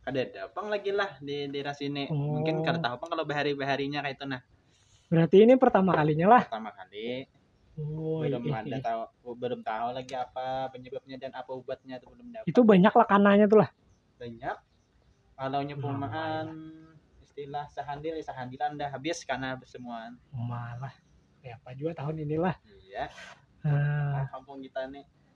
Kada ada pang lagi lah di daerah sini. Oh. Mungkin kada tahu pang kalau bahari-baharinya kayak itu nah. Berarti ini pertama kalinya lah. Pertama kali Oh, belum iya, ada iya. tahu oh, belum tahu lagi apa penyebabnya dan apa obatnya itu belum dapat. Itu banyak lah kananya tuh lah. Banyak. Kalau nyepumaan nah, istilah sehandil ya sehandilan dah habis karena semua. Malah. Ya apa juga tahun inilah. Iya. Uh. Nah, kampung kita nih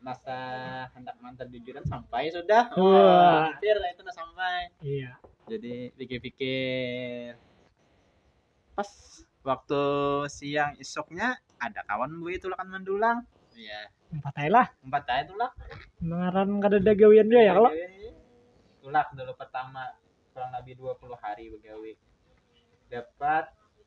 masa hendak mantan jujuran sampai sudah Wah. hampir lah itu nah sampai iya jadi pikir-pikir pas waktu siang isuknya ada kawan gue itu lakan mandulang iya empat aja lah empat aja tuh lah ngaran kada ada gawian dia ya kalau tulak dulu pertama kurang lebih 20 hari begawi dapat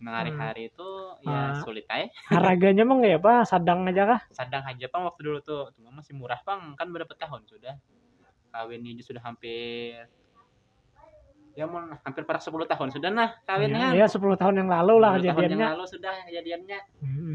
Nang Hmm. hari-hari itu ya Ah. sulit ae. Haraganya mah kayak apa? Sadang aja kah? Sadang aja pang waktu dulu tuh, cuma masih murah pang kan berapa tahun sudah kawin ini sudah hampir ya mau hampir parak 10 tahun sudah nah kawin Ya, kan. ya 10 tahun yang lalu lah 10 tahun yang kejadiannya. lalu sudah kejadiannya. Mm-mm.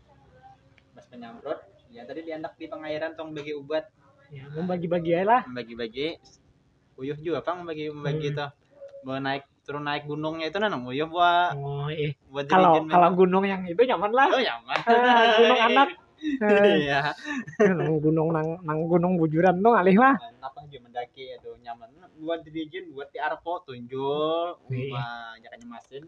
Mas penyamprot, ya tadi diandak di pengairan tong bagi ubat. Ya, membagi-bagi aja lah. Membagi-bagi, uyuh juga pang membagi membagi hmm. tuh. Bawa naik turun naik gunungnya itu nanong uyuh buat oh, iya. buat kalau kalau gunung yang itu nyaman lah oh, nyaman ah, gunung anak iya nang gunung nang nang gunung bujuran tuh alih lah apa aja mendaki itu nyaman buat dirijin buat di arpo tunjul iya. banyak nyemasin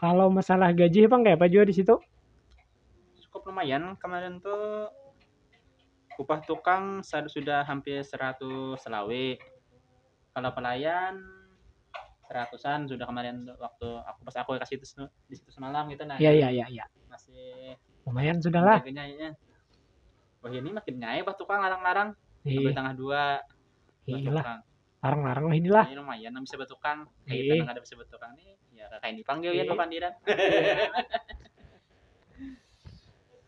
kalau masalah gaji bang kayak apa juga di situ cukup lumayan kemarin tuh upah tukang sudah hampir 100 selawe kalau pelayan seratusan sudah kemarin waktu aku pas aku kasih itu di situ semalam gitu nah ya ya ya ya masih lumayan sudah lah ya. wah ini makin nyai pas tukang larang-larang iya. tengah dua Inilah Batukang. larang-larang lah inilah. Ini lumayan nang bisa batukang. Kayak Iya. kita nang ada bisa batukang nih. Ya kakak ini panggil ya Iya. papandiran.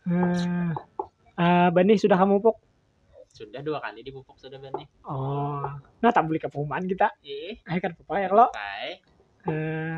Eh, eh, benih sudah kamu pupuk? Sudah dua kali dipupuk sudah benih. Oh, nah tak beli kepumaan kita. Ih, Eh kan pupuk air lo. baik. Eh,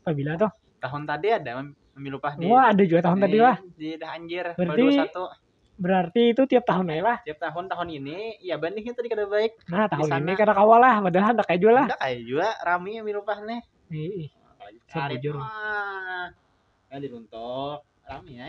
Pabila tuh? Tahun tadi ada pemilu pah di. Wah, ada juga tahun di, tadi lah. Di dah anjir. Berarti satu. Berarti itu tiap tahun aja lah. Tiap tahun tahun ini ya bandingnya tadi kada baik. Nah, tahun ini kada kawal lah, padahal hendak aja lah. Hendak aja juga rami pemilu pah nih. Ih, ih. Sabujur. Ah, ya diruntuk rami ya.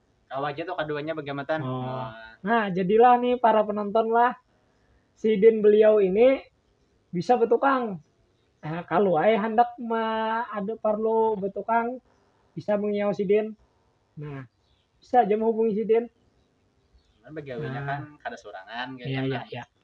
Kawa aja tuh kaduanya bagamatan. Oh. Oh. Nah, jadilah nih para penonton lah. Sidin beliau ini bisa betukang. Nah, kalau ay hendak ma ada perlu betukang bisa mengiau sidin. Nah, bisa aja menghubungi sidin. Cuman bagawinya Nah. kan kada sorangan Iya, iya, iya.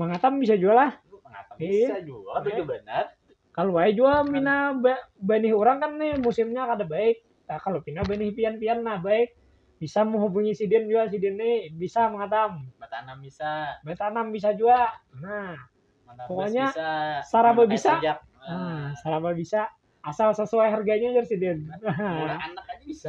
Mangatam bisa jua lah. Mangatam iya. bisa jua, tapi iya. benar. Kalau wae jua mina benih orang kan nih musimnya kada baik. Nah, kalau pina benih pian-pian nah baik bisa menghubungi sidin juga sidin ini bisa mengatam bertanam bisa bertanam bisa juga nah Menabas pokoknya bisa, saraba bisa nah, ah, saraba bisa asal sesuai harganya aja sidin murah anak aja bisa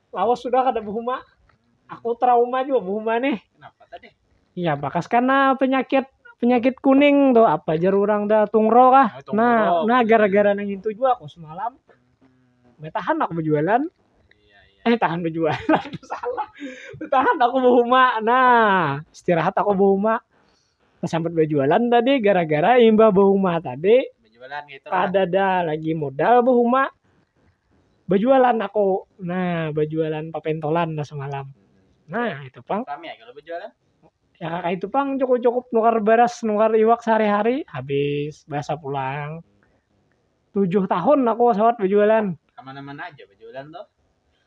lawas sudah kada behuma aku trauma jua behuma nih kenapa tadi ya bakas karena penyakit penyakit kuning tuh apa jar orang dah tungro kah nah, tungro, nah, nah gara-gara nang itu juga aku semalam betahan aku berjualan iya, iya. eh tahan berjualan salah betahan aku berhuma nah istirahat aku berhuma Sambat bajualan tadi gara-gara imbah bahuma tadi bajualan gitu kadada lagi modal bahuma bajualan aku nah bajualan papentolan lah semalam nah itu pang kami ya kalau bajualan ya kakak itu pang cukup-cukup nukar beras nukar iwak sehari-hari habis bahasa pulang tujuh tahun aku sawat bajualan kemana-mana aja bajualan tuh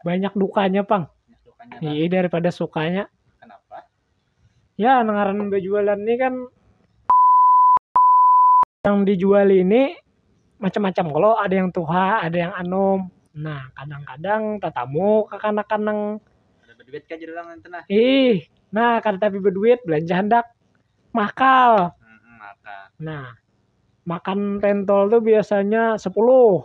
banyak dukanya pang iya daripada sukanya kenapa ya ngaran berjualan ini kan yang dijual ini macam-macam kalau ada yang tuha ada yang anum nah kadang-kadang tatamu kekanakan nang ada berduit kan jadi orang itu nah ih nah kada tapi berduit belanja handak makal hmm, maka nah makan pentol tuh biasanya sepuluh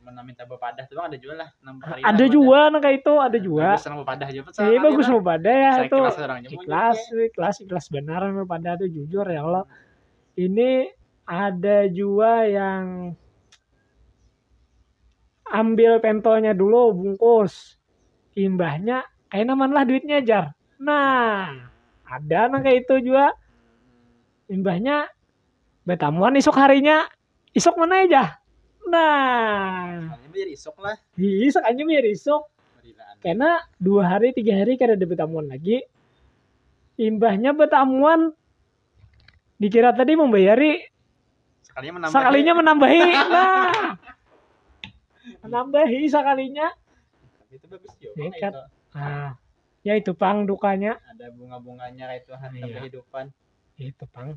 Mana minta bepadah tuh ada juga lah. Ada juga nang kayak itu, ada juga. Bagus nang bepadah aja pun. Iya bagus bepadah ya itu. Ikhlas orang Ikhlas, ikhlas, ikhlas benar bepadah tuh jujur ya Allah. Ini ada juga yang ambil pentolnya dulu bungkus imbahnya kayak naman lah duitnya jar nah ada nang kayak itu juga imbahnya betamuan esok harinya Isok mana ya jah? Nah. Anjing biar isok lah. Isok anjing biar isok. Karena dua hari tiga hari kada ada bertamuan lagi. Imbahnya bertamuan dikira tadi membayari sekalinya menambahi, sekalinya menambahi. nah menambahi sekalinya itu bagus juga nekat nah ya itu pang dukanya ada bunga-bunganya itu harta iya. kehidupan itu pang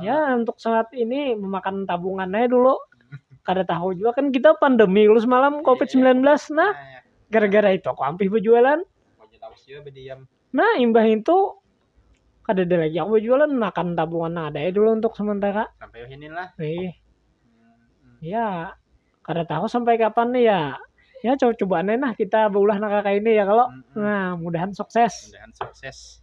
ya untuk saat ini memakan tabungan aja dulu kada tahu juga kan kita pandemi dulu semalam covid 19 nah nah gara-gara itu aku ampih berjualan Wajah tawas juga berdiam. nah imbah itu kada ada lagi aku berjualan makan tabungan yang ada aja dulu untuk sementara Sampai wah ini lah. Ih, Hmm. ya kada tahu sampai kapan nih ya ya coba cobaan aja nah kita beulah nang kayak ini ya kalau Mm-mm. nah mudahan sukses Mudahan sukses.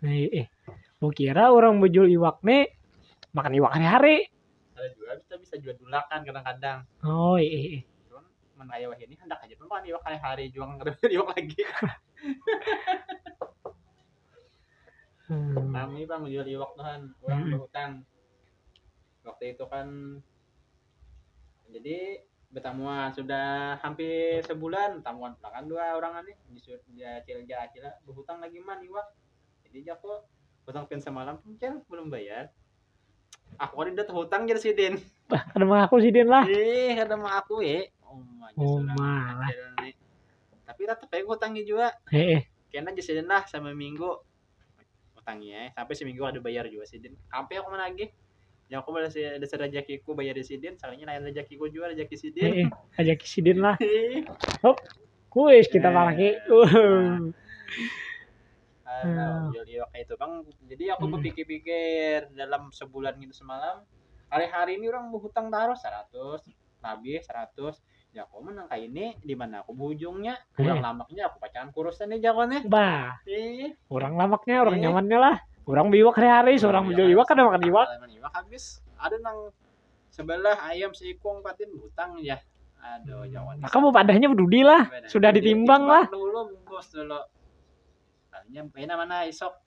Hei, eh, mau kira orang bejul iwak nih makan iwak hari-hari. Ada juga kita bisa jual dulakan kadang-kadang. Oh, eh, eh, eh. Cuman menaya wahini hendak aja tuh makan iwak hari-hari jual ngerebut iwak lagi. Hmm. Kami bang jual iwak tuhan, orang Hmm. berhutang. waktu itu kan jadi bertamuan sudah hampir sebulan tamuan kan dua orang nih nyusut dia acil dia acil berhutang lagi man iwak jadi jago hutang pin semalam cel belum bayar aku kan udah hutang jadi sidin bah ada mah aku sidin lah eh ada mah aku eh oh mah oh, lah tapi tetap kayak hutangnya juga eh, eh. kena jadi sidin lah sama minggu utangi ya sampai seminggu ada bayar juga sidin sampai aku menagih yang aku balas ya dasar rezekiku bayar di sidin salahnya lain rezekiku juga rezeki sidin Eh, eh, aja kisidin lah. Hop, kuis kita Eh. pakai. Uh. Alah, Hmm. jadi kayak itu bang jadi aku Hmm. berpikir-pikir dalam sebulan gitu semalam hari-hari ini orang berhutang taruh 100 lebih 100 Jako mah nang kaini dimana aku buhujungnya urang lamaknya aku pacangan kurusan nih jako nih bah ih urang lamaknya urang nyamannya lah urang biwak hari-hari seorang iya, biwak kada makan iwak kada makan iwak habis ada nang sebelah ayam seikung patin butang ya aduh jawan maka mau padahnya berdudi lah sudah ditimbang lah dulu bungkus dulu kalinya pena mana isok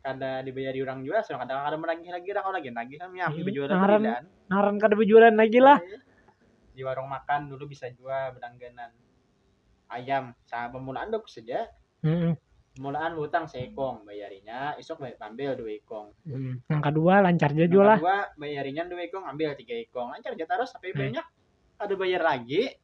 kada dibayari orang jua sudah kada kada menagih lagi dah kawa lagi nagih kami api Hmm, bejualan ngaran. berilaan Ngaran kada bejualan lagi lah. Iya. di warung makan dulu bisa jua berlangganan ayam sa pemulaan baku saja Mm-mm. pemulaan hutang seekong bayarinya isuk bayar ambil dua ikong Mm. Yang kedua lancar aja Yang jua lah. kedua bayarinya dua ikong ambil tiga ikong lancar aja terus tapi Hmm. banyak ada bayar lagi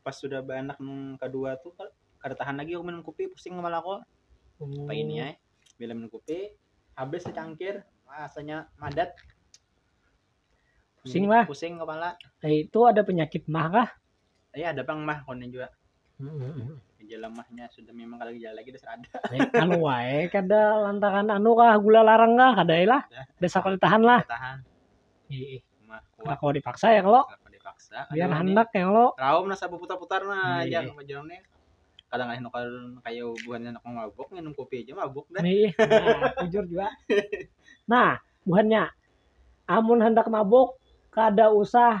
pas sudah beranak nang kedua tuh ka- kada tahan lagi aku minum kopi pusing kepala aku Hmm. apa ini ya bila minum kopi habis secangkir rasanya madat Pusing lah. pusing kepala Eh, itu ada penyakit mah kah? ya ada pang mah konon juga Hmm. gejala mahnya sudah memang kalau gejala lagi udah ada Eh, anu wae kada lantaran anu kah gula larang kah kada lah. Dasar kada tahan lah. tahan Iya. Mah Kada kuat. kawa dipaksa ya kalau Kenapa dipaksa? biar Aduh, ini handak ya kalau. Raum nasa putar-putar nah Iya. aja majalam nih. Kadang aja nukar kaya buhan anak mabuk nginum kopi aja mabuk dah. Nih, nah, jujur juga. Nah, buhannya amun handak mabuk kada usah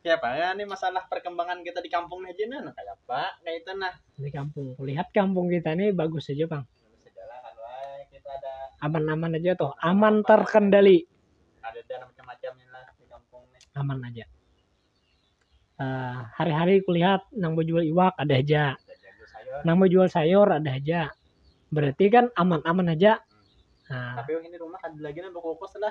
Kaya apa ya nih masalah perkembangan kita di kampung nih Jin nah kaya apa kaya itu nah. Di kampung, kulihat kampung kita nih bagus aja pang. Segala kan wae kita ada Aman-aman aja tuh, aman terkendali. ada dan macam-macam ini lah di kampung nih. aman aja. Eh, hari-hari kulihat nang bejual iwak ada aja, Ada jago sayur. nang bejual sayur ada aja. Berarti kan aman-aman aja. Nah, Tapi ini rumah ada lagi nang bekukus lah.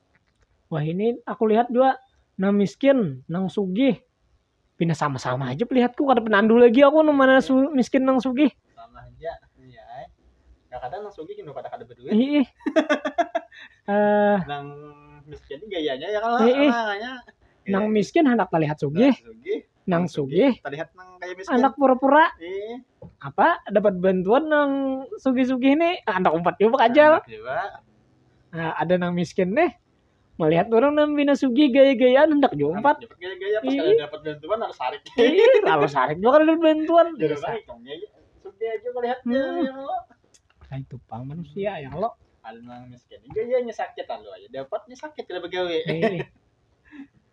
wah ini aku lihat juga nang miskin nang sugih pina sama-sama aja pelihatku kada penandu lagi aku nang mana su miskin nang sugih sama aja iya ay kadang nang sugih kada kada berduit ih eh nang miskin gayanya ya kalau iya nang miskin hendak terlihat sugih nang sugih terlihat nang kaya miskin anak pura-pura eh. apa dapat bantuan nang sugih-sugih nih ah, anak umpat juga kajal nah, ada nang miskin nih melihat orang nang bina sugih gaya-gayaan hendak juga umpat gaya-gaya pas iya. dapat bantuan harus sarik iya harus sarik juga dapat bantuan jadi sugih aja melihatnya hmm. ya nah, itu pang manusia yang lo ada nang miskin gayanya sakit lalu aja dapatnya sakit tidak begawe eh.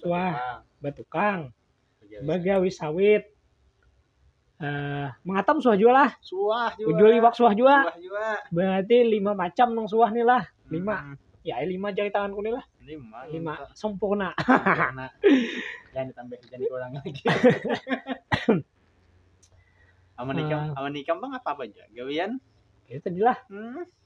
suah batukang, bagawi sawit, uh, mengatam suah jua lah. Suah jua. Ujul iwak suah jua. Suah jua. Berarti lima macam nang suah nih lah. Lima. Hmm. Ya, lima jari tanganku nih lah. Lima. Lima. Sempurna. Sempurna. jangan ditambah, jangan kurang lagi. aman nikam, uh, aman nikam bang apa apa aja. Gawian? Ya tadi lah. Hmm.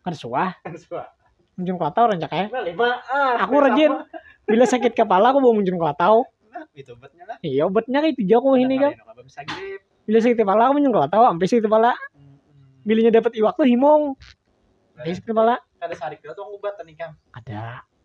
kada suah munjun kelatau rancak ai aku rajin bila sakit kepala aku bawa munjun kelatau iya obatnya kaitu ja aku wahini kam bila sakit kepala aku munjun kelatau am sakit kepala bilanya dapat iwak tu himung sakit kepala kada.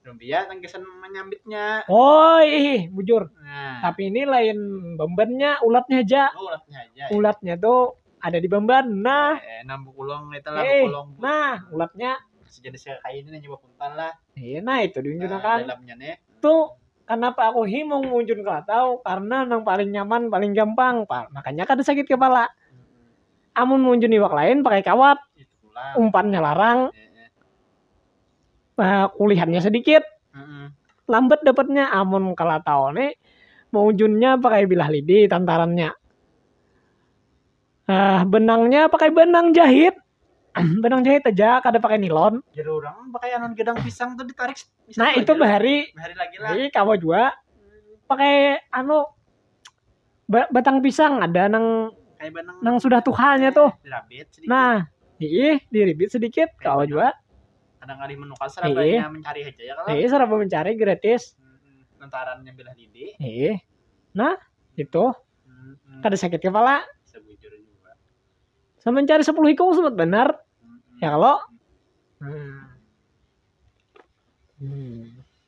Rumbia yang kesan menyambitnya. Oh, ih, bujur. Nah. Tapi ini lain bembennya, ulatnya aja. Oh, ulatnya aja. Ya. Ulatnya tuh ada di bemben. Nah, eh, enam bukulong itu lah eh, bukulong. Nah, ulatnya sejenis kayak ini nyoba puntal lah. Iya, nah itu diunjukkan. Nah, dalamnya nih. Tuh kenapa aku himung muncul ke tahu karena nang paling nyaman paling gampang pak makanya kada sakit kepala hmm. amun muncul iwak lain pakai kawat umpannya larang iya, iya. uh, kulihannya sedikit mm-hmm. lambat dapatnya amun kala tahu nih mau junnya pakai bilah lidi tantarannya uh, benangnya pakai benang jahit benang jahit aja kada pakai nilon jadi orang pakai anon gedang pisang tuh ditarik nah itu bahari bahari lagi lah kamu juga pakai anu ba- batang pisang ada nang Kayak benang. nang sudah tuhanya tuh. Dirabit sedikit. Nah, ih diribit sedikit Kayak kawa benang. jua. Kadang kali menukar serabanya mencari aja ya kalau. Ih seraba mencari gratis. Mm-mm. Lantarannya belah didi. Ih. Nah, itu Mm-mm. kada sakit kepala. Sebujurnya juga. Sama mencari 10 ikung sempat benar. Mm-mm. Ya kalau. Hmm. Hmm.